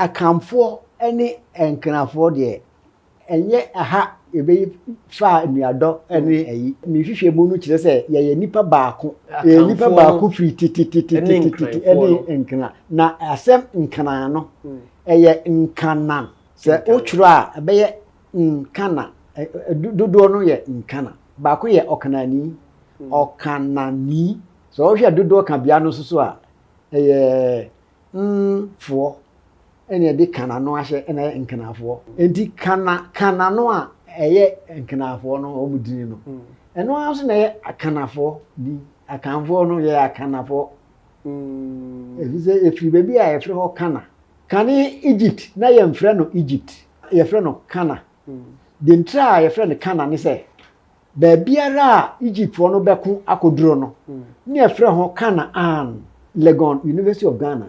Akanfoɔ ne Nkenafoɔ deɛ, ɛnyɛ ha yɛbɛyi faa nuadɔ ne ayi. Ne nhwehwɛmu no kyerɛ sɛ yɛyɛ nnipa baako. Yɛyɛ nnipa baako firi tetetetetete ne Nkena. Na asɛm Nkena no, ɛyɛ Nkana. Sɛ wotwerɛ a, ɛbɛyɛ Nkana. Dodoɔ no yɛ Nkana. Baako yɛ Ɔkanani, Ɔkanani. Sɛ wohwɛ dodoɔ kabea no nso so a, ɛyɛ Kananfoɔ na ɛde Kana no ahyɛ na ɛyɛ Nkanafoɔ. Enti Kana Kana no a ɛyɛ Nkanafoɔ no wɔn din no, ɛno ara nso na ɛyɛ Akanafoɔ din. Akanfoɔ no yɛyɛ Akanafoɔ. Ɛfiri sɛ ɛfiri baabi a yɛfrɛ hɔ Kana. Kane Egypt na yɛmfrɛ no Egypt, yɛfrɛ no Kana. Deɛ nti a yɛfrɛ no Kana ne sɛ, Baabiara a Egyptfoɔ no bɛko akɔduro no, ne ɛfrɛ ho Canaan, Legon, University of Ghana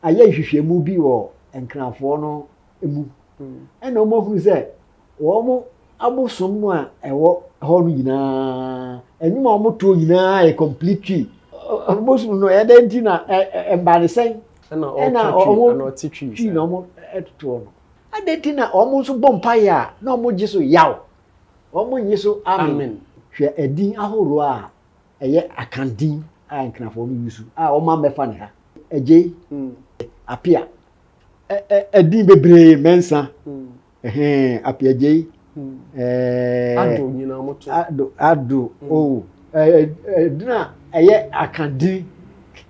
ayɛ nhwehwɛmu bi wɔ Nkranfoɔ no mu, ɛna wɔn ahunu sɛ wɔn abosom no a ɛwɔ hɔ no nyinaa, ɛnwom a wɔn toɔ nyinaa yɛ completely abosom no ɛdɛ nti na ɛmba ne sɛn, ɛna wɔn twi na wɔn toɔ no, ɛdɛ nti na wɔn nso bɔ mpaeɛ a na wɔn gye so yaw. Wɔnnye so amen. Hwɛ edin ahorow a ɛyɛ Akan din a Nkenafɔɔ no use a wɔma mmɛfa ne ha. Agyei, Apea, ɛ-ɛ edin bebree, Mɛnsa, ɛhɛn, Apeagyei, ɛɛ. Ado nyinaa wɔto. Ado, Ado, oh, ɛɛ edin a ɛyɛ Akan din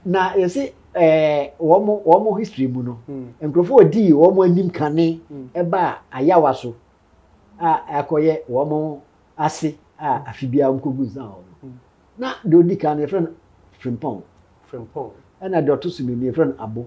na yɛsi ɛɛ wɔn wɔn history mu no, nkurɔfoɔ a wɔdii wɔn anim kane ɛbaa Ayawa so a akɔyɛ wɔn ase a afe biara wɔn kɔgu nsa wɔ no na deɛ ɔdi kan no yɛfrɛ no frimpɔn frimpɔn ɛna deɛ ɔto so mmienu yɛfrɛ no abo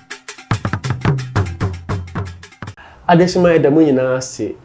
Adesoa a ɛda mu nyinaa ase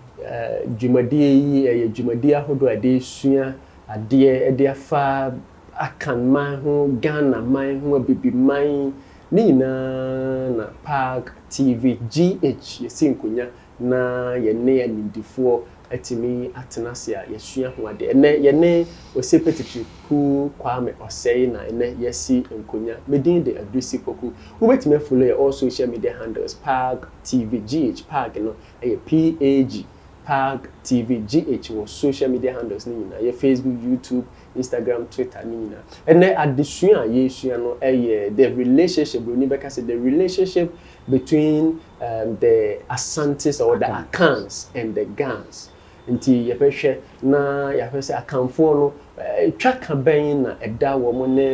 dwumadie yi yɛ dwumadie ahodoɔ a yɛde resua adeɛ de afa Akan man ho, Ghana man ho, Abibiman, ne nyinaa na PAAG TV GH yɛsi nkonnwa na yɛne animdefoɔ atumi atena ase a yɛasua ho adeɛ. Ɛnnɛ yɛne Osepe Teteku Kwame Osei na ɛnnɛ yɛasi nkonya. Me din de Adursi Poku. Wobɛtumi afollow yɛn all social media handles Paag TV GH. Paag no yɛ P-A-A-G, Paag TV GH wɔ social media handles no nyinaa. Yɛ Facebook, YouTube, Instagram, Twitter ne nyinaa. Ɛnnɛ adesua a yɛresua no yɛ The Relationship, Buroni bɛka sɛ The Relationship between um, the Asantes or the Akans and the Gans nti yɛbɛhwɛ na yɛahwɛ sɛ Akanfoɔ no eh, twa ka bɛn na ɛda wɔn ne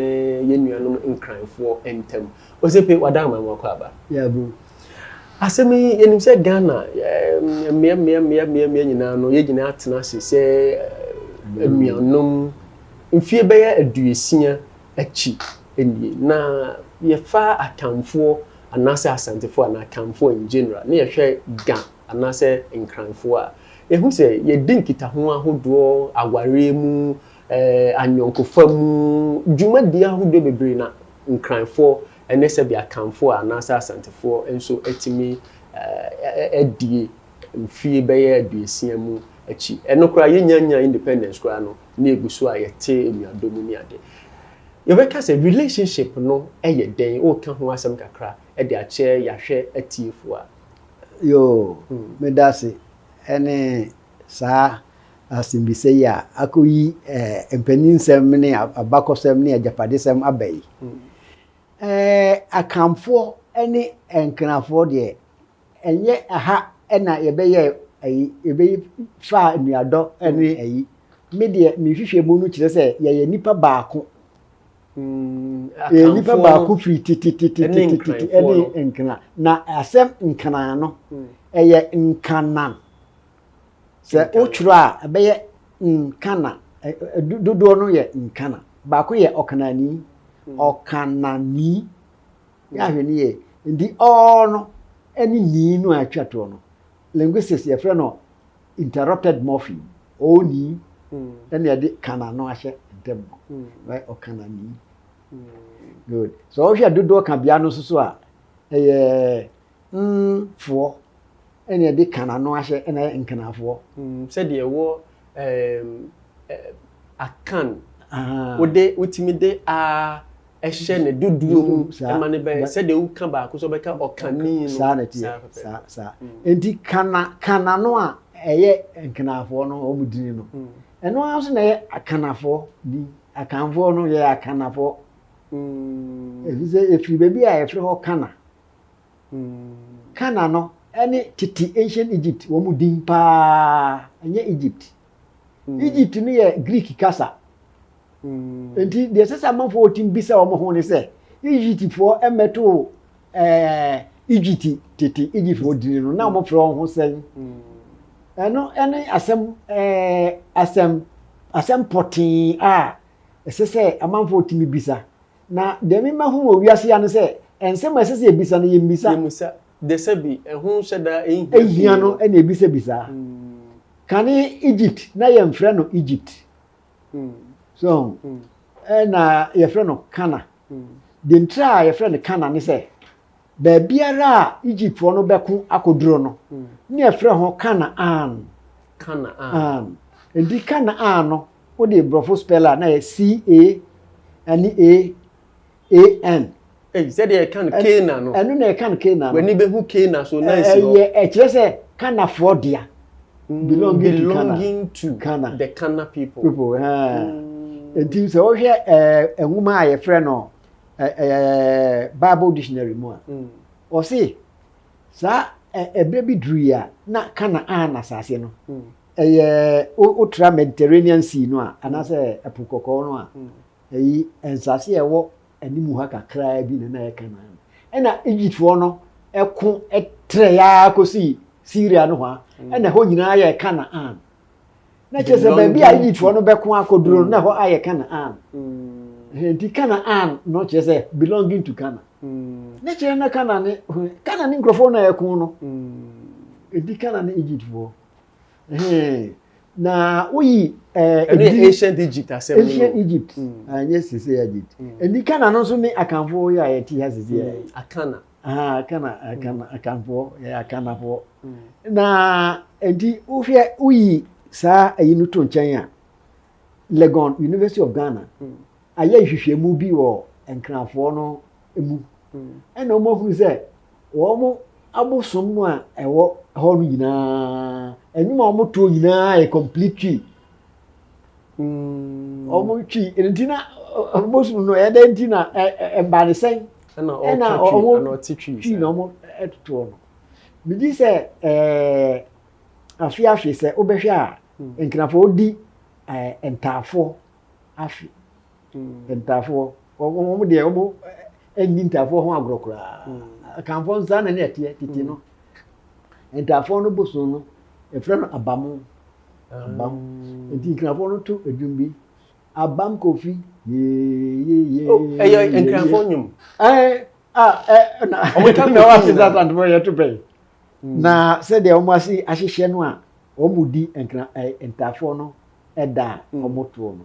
yɛn nuanom Nkranfoɔ ntam Osepe wada ama mu akɔ aba yɛabu asɛm yi yɛnim sɛ Ghana eh, mmea mmea mmea mmea mmea nyinaa no yɛn nyinaa atena ase sɛ eh, anuanom mfie bɛyɛ aduosia akyi nwie na yɛfa Akanfoɔ anaasɛ Asantefoɔ anaa Akanfoɔ in general na yɛhwɛ Ga anaasɛ Nkranfoɔ a, yɛhu sɛ yɛdi nkitaho ahodoɔ, awareɛ mu, ayɔnkofa mu, dwumadie ahodoɔ bebree na Nkranfoɔ ne sɛdeɛ Akanfoɔ anaasɛ Asantefoɔ nso atumi adie mfie bɛyɛ aduosia mu akyi. Ɛno koraa yɛnnya nyaa independence koraa no, ne egu so a yɛte enuadɔ mu ne ade. Yɛbɛka sɛ relationship no yɛ dɛn? Woka ho asɛm kakra de akyerɛ yɛahwɛ atiefo a. Yoo, meda ase. Ɛne saa asɛmbisa yi a akoyi mpaninsɛm ne abakɔsɛm ne agyapadesɛm aba yi. Akanfoɔ ne Nkenafoɔ deɛ Ɛnyɛ ɛha na yɛbɛyɛɛ ayi, yɛbɛyi faa nnuadɔ ne ayi. Me deɛ me nhwehwɛmu no kyerɛ sɛ yɛyɛ nipa baako. Yɛyɛ nipa baako firi titititititi ne nkena. Na asɛm nkena no, ɛyɛ nkanan. Sɛ wotwerɛ a, ɛbɛyɛ nkana. Dodoɔ no yɛ nkana. Baako yɛ ɔkanani, ɔkanani. yɛ ahwɛ no yie. Nti ɔɔ no ne nii no a atwa toɔ no, linguistics yɛfrɛ no interrupted morpheme. Ɔɔ nii ɛna hmm. ɛde kana no ahyɛ ntam no. Hmm. Ɔkana nii. Hmm. Good. So ɔhwɛ dodoɔ ka bea no nso so a ɛyɛ Nfoɔ na ɛde Kan ano ahyɛ na ayɛ Nkanaafoɔ. Sɛdeɛ wɔ ɛɛm ɛɛm Akan, wode wotumi de aa hyɛ ne dodoɔ mu ma no bɛ sɛdeɛ woka baako sɛ wobɛka Ɔkani no. Saa na ɛteɛ, saa saa. Enti Kana Kan ano a ɛyɛ Nkanaafoɔ no wɔn dini no, ɛno ara nso na ɛyɛ Akanafoɔ din. Akanfoɔ no yɛyɛ Akanafoɔ. Ɛfiri sɛ ɛfiri baabi a ɛfrɛ hɔ Kana. Canaan no ne tete ancient Egypt wɔn mu din paa, ɛnyɛ Egypt. Egypt no yɛ Greek kasa. Nti deɛ ɛsɛ sɛ amanfoɔ wɔtim bisa wɔn ho ne sɛ, Egyptfoɔ mmɛtoo Egypt tete Egyptfoɔ dini no, na wɔfrɛ wɔn ho sɛn? Ɛno ne asɛm asɛm asɛm pɔtee a ɛsɛ sɛ amanfoɔ tumi bisa Na deɛ me mahu wɔ wiase ha ne sɛ, nsɛm a ɛsɛ sɛ yɛbisa no, yɛmmisa. Yɛmmisa. Dɛsɛbi, ɛho hyɛ da nhia pii no. Nhia no na yɛbisabisaa. Kane Egypt, na yɛmfrɛ no Egypt. So ho? Ɛna yɛfrɛ no Kana. Deɛ ntira a yɛfrɛ no Kana ne sɛ. baabiara a Egyptfoɔ no bɛko akɔduro no, ne ɛfrɛ ho Canaan. Canaan. Enti Canaan no, wode borɔfo spell a na yɛ C-A ɛne A-A-N. Ei, sɛdeɛ ɛka no Canaan no. Ɛno na ɛka no Canaan no. W'ani bɛhu Canaan so, na ɛsi hɔ. Ɛyɛ ɛkyerɛ sɛ Kanafoɔ dea. Mm, belonging, belonging to Kana. the Kana people. people mm. Nti sɛ wohwɛ eh, nwoma a yɛfrɛ no bible dictionary mu a ɔse saa ɛberɛ bi duru yi a na Canaan asase no ɛyɛ wotra Mediterranean Sea no a anaasɛ ɛpo kɔkɔɔ no a ɛyi nsase a ɛwɔ anim ha kakraa bi na na ɛyɛ Canaan ɛna Egyptfoɔ no ɛko ɛtrɛ yaa kɔsi Syria no hɔ a ɛna ɛhɔ nyinaa yɛ Canaan na kyerɛ sɛ baabi a egyptfoɔ no bɛko akɔduro no na ɛhɔ ayɛ canaan nti canaan no kyerɛ sɛ belonging to canaan ne kyerɛ na canaan ne canaan ne nkurɔfoɔ na ɛko no ɛdi canaan ne egyptfoɔ na woyi eh, ɛno yɛ ancient egypt asɛm no ancient egypt ɛnyɛ sese egypt ɛni canaan no nso ne akanfoɔ yɛ a yɛte ha sese yɛ akana Ah, Akana, Akana, mm. Akanfoɔ, yɛyɛ Akanafoɔ. Mm. Na nti wohwɛ woyi saa ayi no to nkyɛn a, Legon University of Ghana mm. ayɛ nhwehwɛmu bi wɔ Nkrafoɔ no mu. Ɛna wɔn ahunu sɛ wɔn abosom no a ɛwɔ hɔ no nyinaa, ɛnwom a wɔtoɔ nyinaa yɛ complete tree. ɔmo mm. twi nti na bosom no ɛdɛ nti na ɛba ne sɛn ɛna ɔmo twi na ɔmo ɛtotoɔ no megye sɛ ɛɛ afe afe sɛ wobɛhwɛ a mm. nkrafo di ɛɛ ntaafoɔ afe. Ntafoɔ, wɔn deɛ wɔn nni ntafoɔ ho agorɔ koraa. Akanfoɔ nso saa na ne ɛteɛ tete no. Ntafoɔ no boso no, efrɛ no abamo. Abam. Nti nkrafoɔ no to edwom bi. Abam kofi yeeyeye. Oh, ɛyɛ nkrafoɔ nnwom. Ɛɛ a ɛ na wɔn ta na wɔn ase sa santi wɔn yɛ to bɛyi. Na sɛdeɛ wɔn ase ahyehyɛ no a wɔn di nkra ɛ ntafoɔ no ɛda a wɔn toɔ no.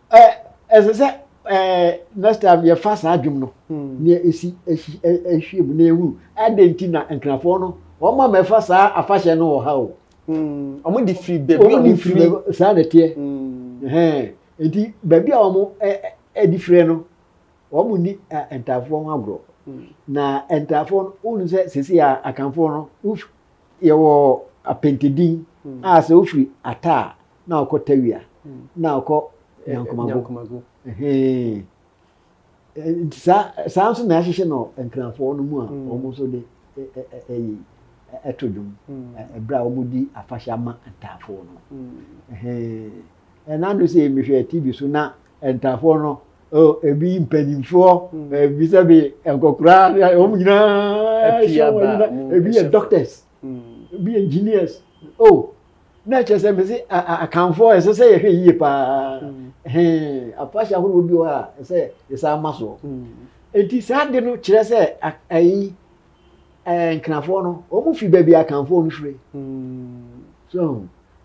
ɛ ɛsɛ sɛ ɛɛ next time yɛfa saa dwom no nea esi ɛhyi ɛhwie mu na ehuru adan nti na nkrafoɔ no wɔn ma mɛfa saa afahyɛ no wɔ ha o. wɔn de firi baabi a wɔn firi saa na ɛteɛ ɛhɛn nti baabi a wɔn ɛ ɛde firi no wɔn ni ɛ ntaafoɔ ho agorɔ na ntaafoɔ no wɔn sɛ sisi a akanfoɔ no yɛwɔ apɛntɛdin a sɛ wofiri ataa. na ɔkɔ tawia na ɔkɔ nyankomago nti saa nso na yɛahyehyɛ no nkrafoɔ no mu a mm. wɔn nso de ɛyi ɛto dwom mm. ɛberɛ a wɔdi afahyɛ ama ntaafoɔ no mm. ɛnando sɛ yɛmehwɛ tv so na ntaafoɔ no ebi mpanimfoɔ ebi sɛ bi nkɔkora wɔn nyinaa ebi yɛ doctors Mm, be engineers. Oh, na kyerɛ sɛ mese akanfoɔ ɛsɛ sɛ yɛhwɛ yie paa. Mm. Afahyɛ ahorow bi wɔ a ɛsɛ yɛsaa ma soɔ. Mm. Enti saa de no kyerɛ sɛ ayi nkrafoɔ no, wɔn fi baabi akanfoɔ no firi. Mm. So,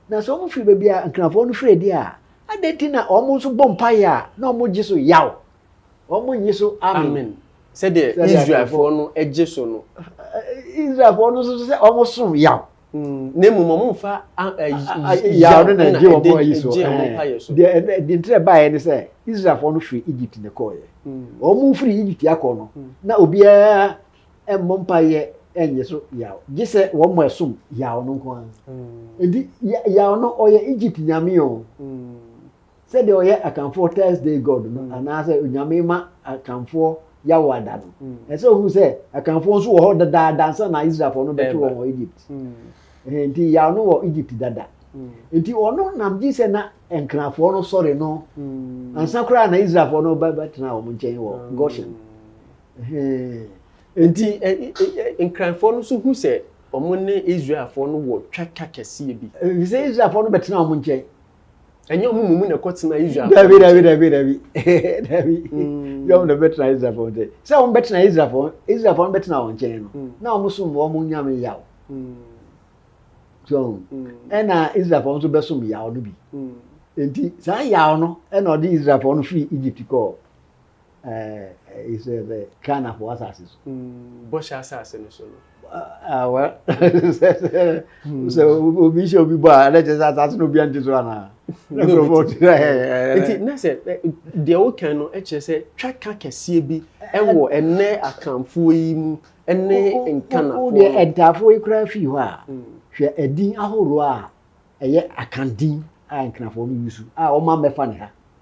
na sɛ wɔn fi baabi a nkrafoɔ no firi deɛ a, adɛn ti na wɔn nso bɔ mpaeɛ a na wɔn gye so yaw. wɔnnye so amen. Sɛdeɛ Israelfoɔ no gye so no. Israelfoɔ no nso sɛ wɔsom yaw. Hmm, na mmom wɔmfa yaw no na ɛgye wɔn ayi so. Deɛ nti a ɛbaeɛ ne sɛ Israelfoɔ no firi Egypt na ɛkɔeɛ. Hmm. Wɔn firi Egypt akɔ no, hmm. na obiara mmɔ mpaeɛ ɛnyɛ so yaw gye sɛ wɔn mo ɛsom yaw no nko ara nti yaw no ɔyɛ egypt nyame o. sɛdeɛ ɔyɛ akanfoɔ thursday god no mm. anaasɛ onyame ma akanfoɔ yawo ada no mm. ɛsɛ ohun sɛ akanfoɔ nso wɔ hɔ dada dansa na israelfoɔ no bɛto wɔn wɔ egypt mm. nti yawo no wɔ egypt dada nti ɔno nam gye sɛ na nkrafoɔ no sɔre no ansa koraa na israelfoɔ no bɛtena wɔn nkyɛn wɔ goshen nti nkrafoɔ no nso hu sɛ wɔn ne israelfoɔ no wɔ twatwa kɛseɛ bi. efisɛ israelfoɔ no bɛtena wɔn nkyɛn. ɛnyɛ ɔmo mu mu na ɛkɔ tena israel fo dabi dabi dabi dabi dabi mm. yɛ ɔmo na bɛtena israel fo nkyɛn sɛ ɔmo bɛtena israel fo israel fo ɔmo bɛtena wɔn nkyɛn no mm. na ɔmo som wɔn ɔmo nyame yaw mm. so ɛna israel fo nso bɛsom yaw no bi nti saa yaw no ɛna ɔde israel fo no firi egypt kɔɔ. Ghanafo asase so. Mm, bɔhyɛ asase no so no. Ah, well, sɛ obi hyɛ obi bɔ a, ɛna kyerɛ sɛ asase no obi ante so anaa? Nti na sɛ deɛ wokan no kyerɛ sɛ twaka kɛseɛ bi wɔ ɛnɛ akanfoɔ yi mu ne nkanafoɔ. Deɛ ɛntaafoɔ yi koraa fii hɔ a, mm. hwɛ ɛdin ahoroɔ a ɛyɛ akandin a nkanafoɔ no yusu a wɔma mɛfa ne ha.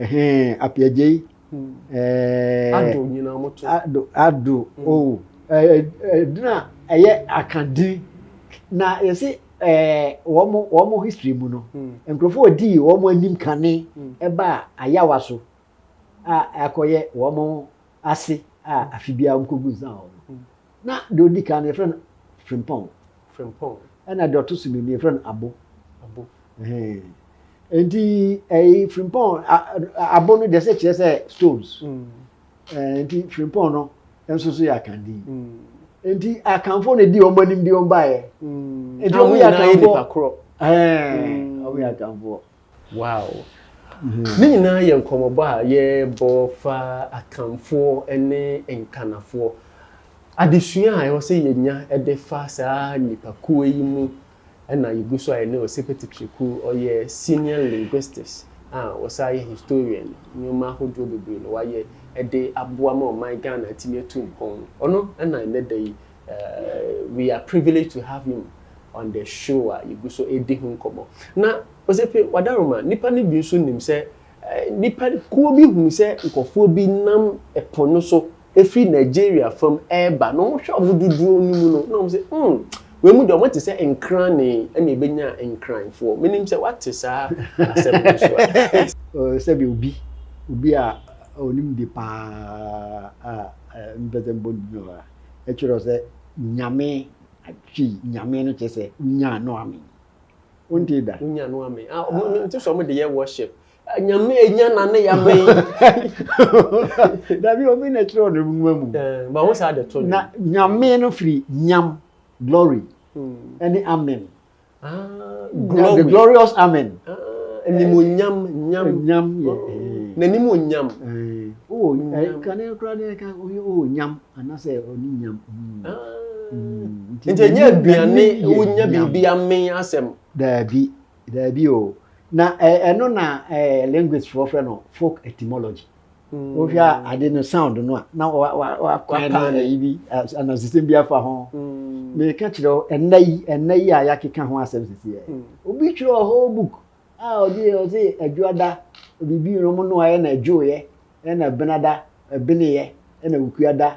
Ɛhɛn Apeagyei ɛɛ. Ado nyinaa mo to. Ado Ado o ɛdin a ɛyɛ aka din na yɛsi ɛɛ wɔn wɔn history mu no nkurɔfoɔ odii wɔn anim kane ɛbaa ayawa so a ɛkɔyɛ wɔn ase a afe biara wɔkɔgu nsa wɔ no na deɛ ɔdi kan no yɛfrɛ no frimpɔn frimpɔn ɛna deɛ ɔto so mmienu yɛfrɛ no abo abo nti ɛyi frimpɔn abo no deɛ sɛ kyerɛ sɛ stones mm. nti frimpɔn no nso so yɛ akandin mm. nti akanfo na di wɔn anim de wɔn baeɛ mm. nti wɔn yɛ akanfo ɛɛ wɔn yɛ akanfo. Wow. Ne nyinaa yɛ nkɔmmɔbɔ a yɛrebɔ fa Akanfoɔ ne Nkanafoɔ adesua a ɛwɔ sɛ yɛnya de fa saa nnipakuo yi mu na yɛgu so a yɛne Osipe Tetriku, ɔyɛ Senior Linguistics a ɔsan yɛ Historian, nneɛma ahodoɔ bebree na wayɛ de aboa ma ɔman Ghana atumi atu mpɔn. Ɔno na ɛnnɛ da yi We are privileged to have him on the show a yɛgu so ɛdi ho nkɔmmɔ. Na Osefe Wadaroma, nnipa no bi nso nim sɛ nnipa kuo bi hunu sɛ nkurɔfoɔ bi nam ɛpo no so ɛfiri Nigeria fam ɛreba na wɔhwɛ wɔn dodoɔ no mu no na wɔn sɛ hmm wei mu deɛ wɔn te sɛ nkrane ɛna ɛbɛnya nkranfoɔ. Menim sɛ wate saa asɛm no nso a. Sɛdeɛ obi obi a ɔnim de paa a mempɛ sɛ mbɔ ne din wɔ ha. ɛkyerɛ sɛ Nyame atwi Nyame no kyerɛ sɛ wonyaa no ame wontee da wonyaa no ame ah ɔmo no nti sɛ ɔmo de yɛ worship ah, Nyame enya na ne ya me dabi obi na ɛkyerɛ ɔno nwuma mu eh, ba ho saa de to na Nyame no firi nyam glory hmm. ɛne amen Ah, glory. The glorious amen. Ah, animonyam, nyam. Nyam, yeah. Oh, eh. N'anim wɔ nyam. Eh. Oh, nyam. Kane kura ne ka ɔyɛ oh nyam anasɛ ɔne nyam. Hmm. Ah. Hmm. Nti ɛnyɛ aduane wonya biribi amen asɛm. Daabi, daabi o. Na ɛno eh, na eh, language foɔ frɛ no folk etymology. wohwɛ a mm. ade no sound no a na wakwan no ayi bi anasesɛm bi afa ho mm. meka kyerɛ wo ɛnna yi ɛnna yi a yɛakeka ho asɛm sisiɛ mm. obi twerɛ whole book a ɔde ɔse adwoada biribi no mu no ayɛ na adwoeɛ ɛna benada ɛbeneyɛ ɛna wukuada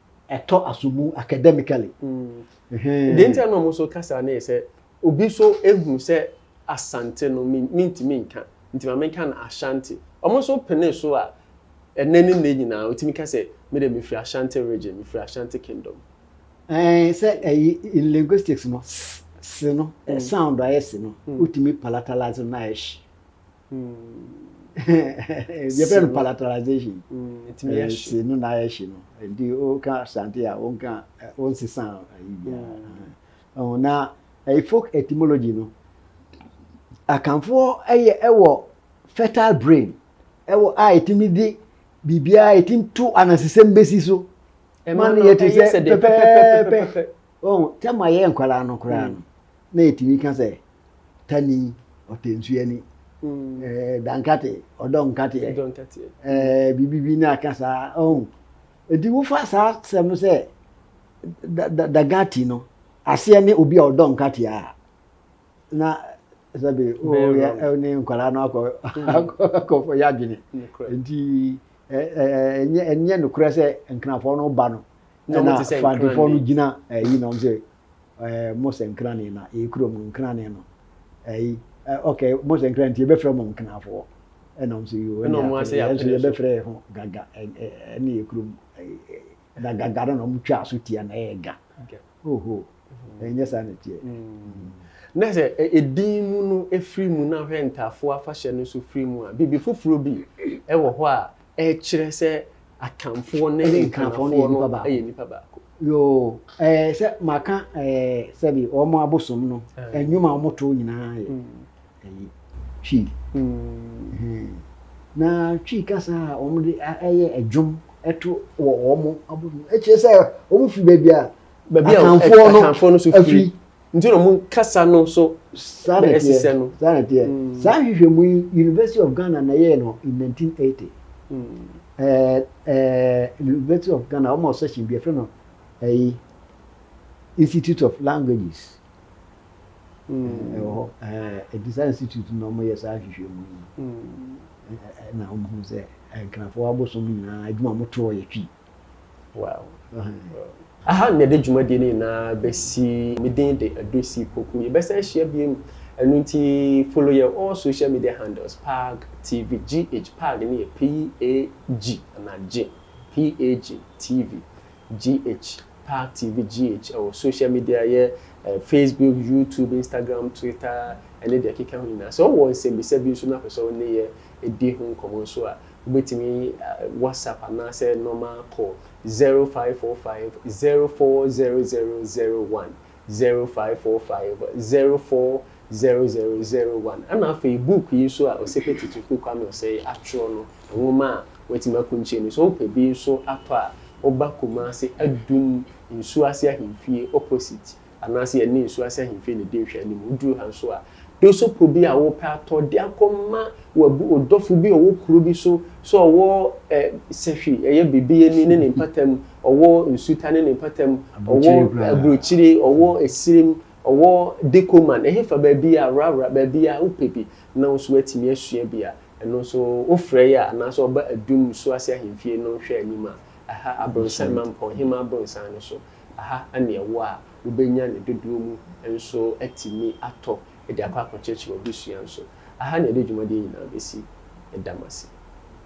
Ɛtɔ asobu academically. Deɛ nti a na wɔn nso kasa no yɛ sɛ obi nso ehunu sɛ Asante no mintumi nka nti ma menka no Ashanti. Wɔn nso penee so a ɛnɛ ne nnɛ nyinaa otumi ka sɛ me deɛ mefiri Ashanti region, mefiri Ashanti kingdom. Ɛɛ sɛ ɛyi in linguistics no s no sound a yɛ s no wotumi palatalize no na ayɛ sh. yɛfrɛ no palatalization si no na ayɛ hye no nti woka asante a wonka wonsesa ayi biara na folk etymology no akanfoɔ yɛ ɛwɔ fertile brain ɛwɔ a ɛtumi de biribiara ɛtumi to anansesɛm bɛsi so ma no yɛte sɛ pɛpɛpɛpɛpɛ Wɔn tam a yɛyɛ nkwadaa no koraa no, na yɛtumi ka sɛ tani, ɔtɛnsuani, ɛɛ dankate, ɔdɔ nkateɛ, ɛɛ biribi bi na aka saa ɔn. Eti wofa saa sɛm no sɛ da da dagati no aseɛ ne obi a ɔdɔ nkateɛ a na sɛbi o ne nkwadaa no akɔ akɔfɔ yɛ adwene nti ɛnyɛ ɛnyɛ nokorɛ sɛ nkrafɔ no ba no ɛna fantefɔ no gyina ɛyi na wɔn sɛ ɛɛ mo sɛ nkrane na ɛyɛ kurom no nkrane no ɛyi ok mo sɛ nkrane nti yɛbɛfrɛ mo nkrafɔ ɛna wɔn sɛ yoo ɛna wɔn ase yɛn so yɛbɛfrɛ yɛn ho gaga ɛne yɛ kurom na gaga no na wɔn twa so tia na ɛyɛ ga Oho, ɛnyɛ saa na ɛteɛ. Na sɛ edin mu no firi mu na hwɛ ntaafoɔ afahyɛ no nso firi mu a, biribi foforɔ bi wɔ hɔ a ɛkyerɛ sɛ akanfoɔ ne nkanafoɔ no yɛ nnipa baako. Yoo, ɛɛ sɛ maka ɛɛ sɛbi wɔn abosom no, nnwuma a wɔto nyinaa yɛ. ɛyɛ Twi na Twi kasa a wɔde ɛyɛ ɛdwom ɛto wɔ wɔn abom no ɛkyerɛ sɛ wɔn firi baabi a baabi a akanfoɔ no so firi nti na wɔn kasa no so saa na ɛteɛ saa na ɛteɛ hmm. saa nhwehwɛmu yi University of Ghana na ɛyɛ no in 1980 hmm. ɛɛ ɛɛ University of Ghana wɔn a ɔsɛ hyɛn bi ɛfɛ no ɛyi Institute of Languages. mm. ɛwɔ hɔ ɛdisa institute na wɔyɛ saa nhwehwɛmu yi mm. na wɔhu sɛ nkrafoɔ abosom nyinaa adwuma motoɔ yɛ twi wow. aha na yɛde dwumadie no nyinaa bɛsi me din de adosi poku yɛbɛsɛ ahyia biom ɛno nti follow yɛ all social media handles pag tv gh pag ne yɛ pag anaa gye pag tv GH, Park TV GH, wɔ social media yɛ Facebook, YouTube, Instagram, Twitter, ne deɛ ɛkeka ho nyinaa. Sɛ wowɔ nsɛmmisa bi nso na wopɛ sɛ wo ne yɛ di ho nkɔmmɔ nso a, wobɛtumi WhatsApp anaasɛ normal call 0545 040001, 0545 040001. 0001. Ɛna afei book yi nso a Osepe Tutuku Kwame Osei atwerɛ no, nwoma a watumi akunkyire no, sɛ wopɛ bi nso atɔ a, woba Kumasi Adum nsuo ase ahemfie opposite anaasɛ yɛne nsuo ase ahemfie na ɛdi nhwɛanim. Woduru ha nso a, dosopo bi a wopɛ atɔ de akɔma w'abu wo dɔfo bi a ɔwɔ kuro bi so, sɛ ɔwɔ ɛ Sɛhwi, ɛyɛ Bebeani ne ne mpatamu, ɔwɔ Nsuta ne ne mpatamu, ɔwɔ Aburokyire, ɔwɔ Esirim, Ɔwɔ Decoman, ɛhefa baabiara, worawora baabiara a wopɛ bi na wo nso woatumi asua bi a, ɛno nso wofrɛ yɛ a, anaasɛ ɔba Adum Nsuase Ahemfie no nhwɛ anim a, ɛha Abronsan, Mampɔn Hema Abronsan no so, ɛha na ɛwɔ a wobɛnya ne dodoɔ mu nso atumi atɔ de akɔ akɔkyerɛkyerɛ wɔ adesua nso. Ɛha na yɛde dwumadie nyinaa bɛsi. Yɛda mo ase.